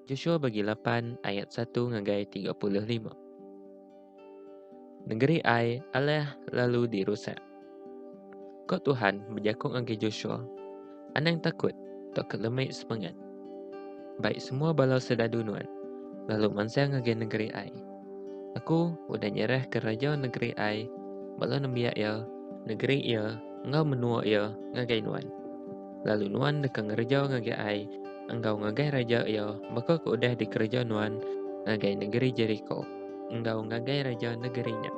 Joshua bagi lapan ayat satu ngagai tiga puluh lima. Negeri ai alah lalu dirusak. Kau Tuhan bejaku ngagai Joshua, Anang takut, tau kelemai sepengat. Bai semua bala sedadu nuan, lalu mansang ngagai nengeri ai. Aku udah nyerahka raja nengeri ai, bala nembiak iya, nengeri iya, enggau menua iya ngagai nuan. Lalu nuan deka ngereja ngagai ai enggau ngagai raja iya baka ke udah dikereja nuan ngagai nengeri Jeriko enggau ngagai raja nengeri nya.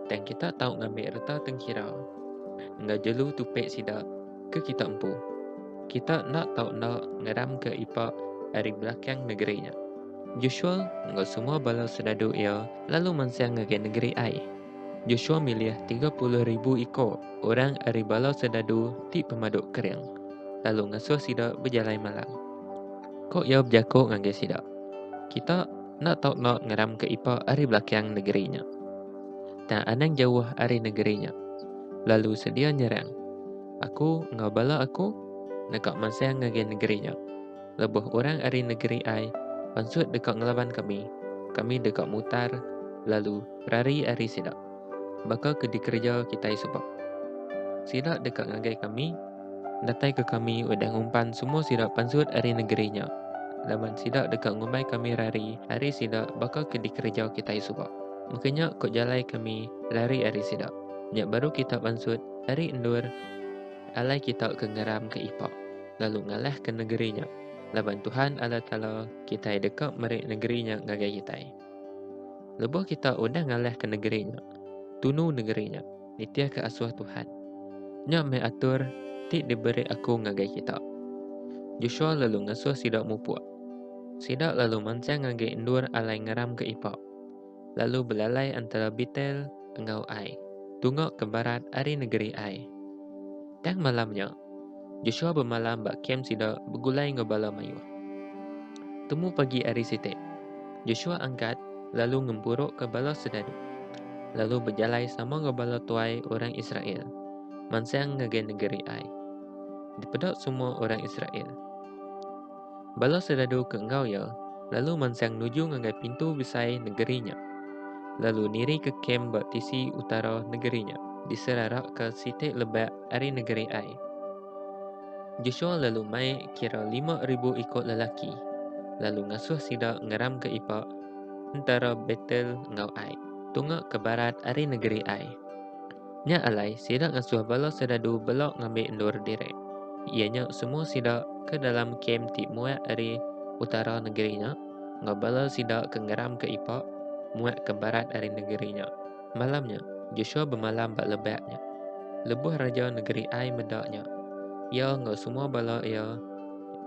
Tang kita tau ngambi reta tengkira enggau jelu tupi sida ke kita empu. Kita enda tau enda ngeramka Ipa ari belakang negeri nya. Joshua enggau semua bala soldadu iya lalu mansang ngagai negeri Ai. Joshua milih tiga puluh ribu iko orang ari bala soldadu ti pemadu kering, lalu ngasuh sida bejalai malam. Ko iya bejako ngagai sida, Kita enda tau enda ngeramka Ipa ari belakang negeri nya. tang anang jauh ari negeri nya, lalu sedia nyerang aku enggau bala aku deka mansang ngagai negeri nya. Lebuh orang ari negeri ai pansut deka ngelaban kami, kami deka mutar lalu rari ari sida, baka ke dikereja kitai suba. Sida deka ngagai kami, Datai ke kami udah ngumpan semua sida pansut ari negeri nya laban sida deka ngumbai kami rari ari sida baka ke dikereja kitai suba. Mega nya ko jalai kami rari ari sida. Nya baru kita pansut ari endur alai kita ke ngeram ke ipa lalu ngalah ke negeri nya laban Tuhan Allah Taala kitai deka meri negeri nya ngagai kitai. Lebuh kita udah ngalah ke negeri nya, tunu negeri nya. Nitihka asuh Tuhan. Nya meh atur ti diberi aku ngagai kita. Joshua lalu ngasuh sida mupuk. Sida lalu mansang ngagai endur alai ngeram ke ipa, lalu belalai antara Betel enggau Ai, tungok ke barat ari negeri Ai. Tang malam nya, Joshua bemalam ba kem sida begulai enggau bala mayuh. Temu pagi ari siti, Joshua angkat lalu ngemburukka bala sedaru, lalu bejalai sama enggau bala tuai orang Israel mansang ngagai negeri ai. Dipeda semua orang Israel. Bala soldadu ke enggau iya lalu mansang nuju ngagai pintu besai negeri nya, lalu nirika kem ba tisi utara negeri nya. Diserarakka siti lebak ari negeri Ai. Joshua lalu mai kira lima ribu iku lelaki, lalu ngasuh sida ngeramka ipak entara Betel enggau Ai, tunga ke barat ari negeri Ai. Nya alai, sida ngasuh bala serdadu bela ngambi endur diri, iya nya semua sida ke dalam kem ti muat ari utara negeri nya, enggau bala sida ke ngeram ke ipa muat ke barat ari negeri nya. Malam nya, Joshua bemalam ba lebak nya, lebuh raja negeri Ai meda nya, iya enggau semua bala iya,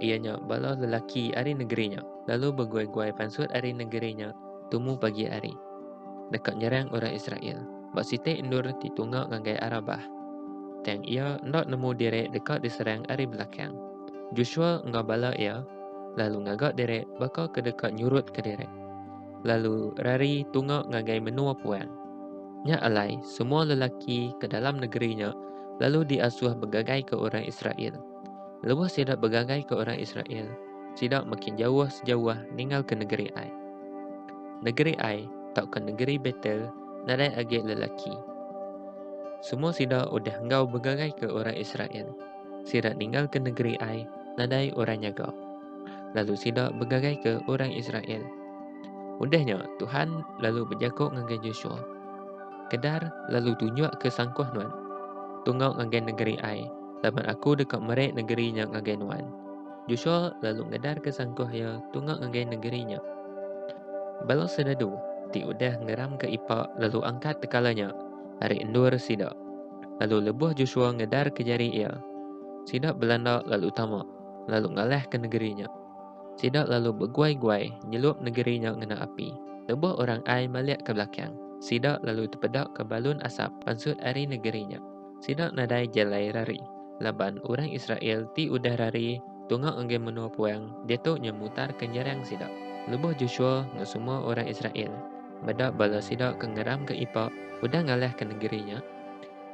iya nya bala lelaki ari negeri nya, lalu beguai-guai pansut ari negeri nya tumu pagi hari, deka nyerang orang Israel. ba siti endur ti tunga ngagai Arabah. Tang iya enda nemu diri deka diserang ari belakang. Joshua enggau bala iya lalu ngaga diri baka ke deka nyurutka diri, lalu rari tunga ngagai menua puang. Nya alai, semua lelaki ke dalam negeri nya lalu diasuh begagaika orang Israel. Lebuh sida begagaika orang Israel, sida makin jauh sejauh ninggalka negeri Ai. Negeri Ai tauka negeri Betel nadai agi lelaki. Semua sida udah enggau begagaika orang Israel. Sida ninggalka negeri ai, nadai orang nyaga. Lalu sida begagaika orang Israel. Udahnya, Tuhan lalu bejaku ngagai Joshua, Kedar lalu tunjukka sangkuh nuan. Tunggau ngagai negeri ai, laban aku deka meri negeri nya ngagai nuan. Joshua lalu ngedarka sangkuh iya tunga ngagai nengeri nya. Bala serdadu ti udah ngeramka ipa lalu angkat tekala nya ari endur sida. Lalu lebuh Joshua ngedarka jari iya, sida belanda lalu tama, lalu ngalahka nengeri nya. Sida lalu beguai-guai nyelup nengeri nya ngena api. Lebuh orang Ai malik ke belakang, sida lalu tepedaka balun asap pansut ari nengeri nya. Sida nadai jalai rari, laban orang Israel ti udah rari tunga enggai menua puang ditu nya mutarka nyerang sida. Lebuh Joshua enggau semua orang Israel meda bala sida ke ngeramka ipa udah ngalahka nengeri nya,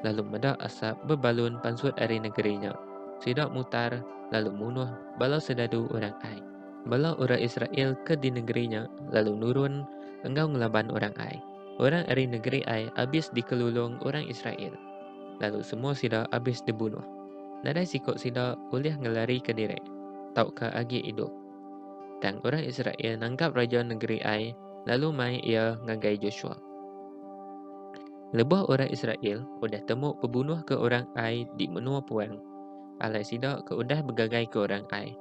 lalu meda asap bebalun pansut ari nengeri nya, sida mutar lalu munuh bala serdadu orang Ai. Bala orang Israel ke di nengeri nya lalu nurun enggau ngelaban orang Ai. Orang ari negeri Ai abis dikelulung orang Israel, lalu semua sida abis dibunuh. Nadai siku sida ulih ngelarika diri tauka agi idup. Tang orang Israel nangkap raja negeri Ai lalu mai iya ngagai Joshua. Lebuh orang Israel udah temu pebunuh ke orang Ai di menua puang, alai sida ke udah begagai ke orang Ai,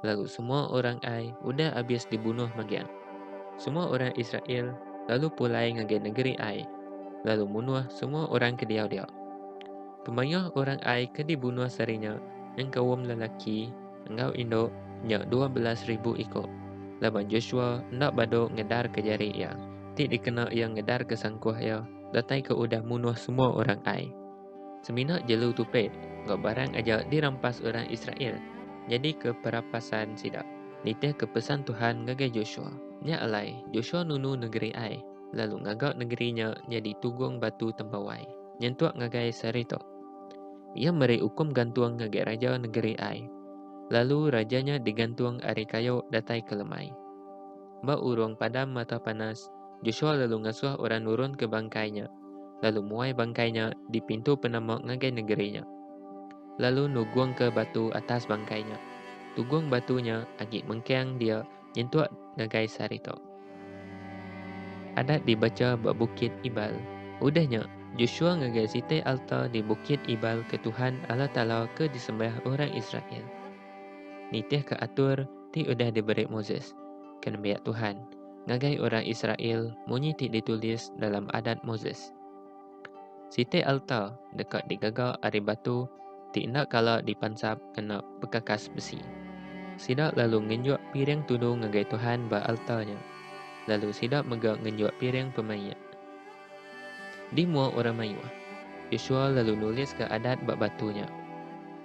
lalu semua orang Ai udah abis dibunuh megang. Semua orang Israel lalu pulai ngagai negeri Ai, lalu munuh semua orang ke diau dia. Kemayuh orang Ai ke dibunuh sehari nya nyengkaum lelaki enggau indu nya dua belas ribu iku. Laban Joshua enda badu ngedar ke jari iya, ti dikena iya ngedar ke sangkuh iya datai ke udah munuh semua orang Ai. Semina jelu tu pe enggau barang aja dirampas orang Israel nyadi ke perapasan sida. Nitih ke pesan Tuhan ngagai Joshua. Nya alai, Joshua nunu nengeri Ai, lalu ngaga nengeri nya nyadi tugung batu tempawai, nyentuk ngagai seri tu. Iya meri ukum gantung ngagai raja nengeri Ai, lalu raja nya digantung ari kayu datai ke lemai. Ba urung padam mata panas, Joshua lalu ngasuh orang nurunka bangkai nya. lalu muai bangkai nya di pintu penama ngagai negeri nya. Lalu nugungka batu atas bangkai nya. Tugung batu nya agi mengkang dia nyentuk ngagai sehari tu. Adat dibacha ba Bukit Ibal. Udah nya, Joshua ngagai siti alta di Bukit Ibal ke Tuhan Allah Taala ke disembah orang Israel. Nitihka atur ti udah diberi Moses, ke nembiak Tuhan, ngagai orang Israel munyi ti ditulis dalam Adat Moses. Siti alta deka digaga ari batu ti enda kala dipansap ngena bekakas besi. Sida lalu ngenjuk piring tudu ngagai Tuhan ba alta nya, lalu sida mega ngenjuk piring pemaik. Di mua orang mayuh, Yosua lalu nuliska adat ba batu nya,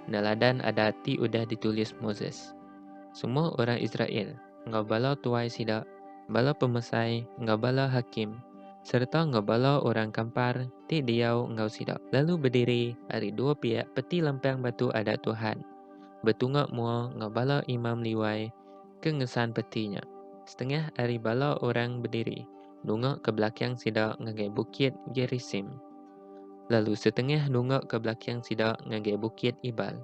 neladan adat ti udah ditulis Moses. Semua orang Israel enggau bala tuai sida, bala pemesai enggau bala hakim, sereta enggau bala orang kampar ti diau enggau sida, lalu bediri ari dua piak peti lempang batu Adat Tuhan, betunga mua enggau bala imam Liwai ke ngesan peti nya. Setengah ari bala orang bediri nunga ke belakang sida ngagai Bukit Gerisim, lalu setengah nunga ke belakang sida ngagai Bukit Ibal.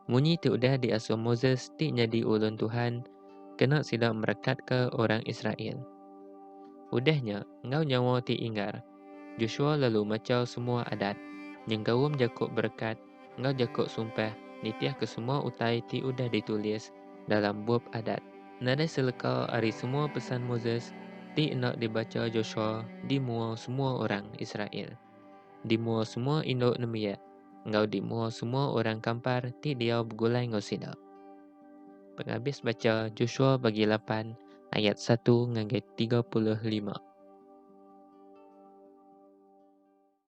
Munyi ti udah diasuh Moses ti nyadi ulun Tuhan kena sida merekatka orang Israel. Udah nya, enggau nyawa ti inggar, Joshua lalu machau semua adat, nyengkaum jaku berekat enggau jaku sumpah nitihka semua utai ti udah ditulis dalam Bup Adat. Nadai seleka ari semua pesan Moses ti enda dibacha Joshua di mua semua orang Israel. Di mua semua indu nembiak enggau di mua semua orang kampar ti diau begulai enggau sida. Pengabis bacha Joshua bagi lapan ayat satu ngagai tiga puluh lima.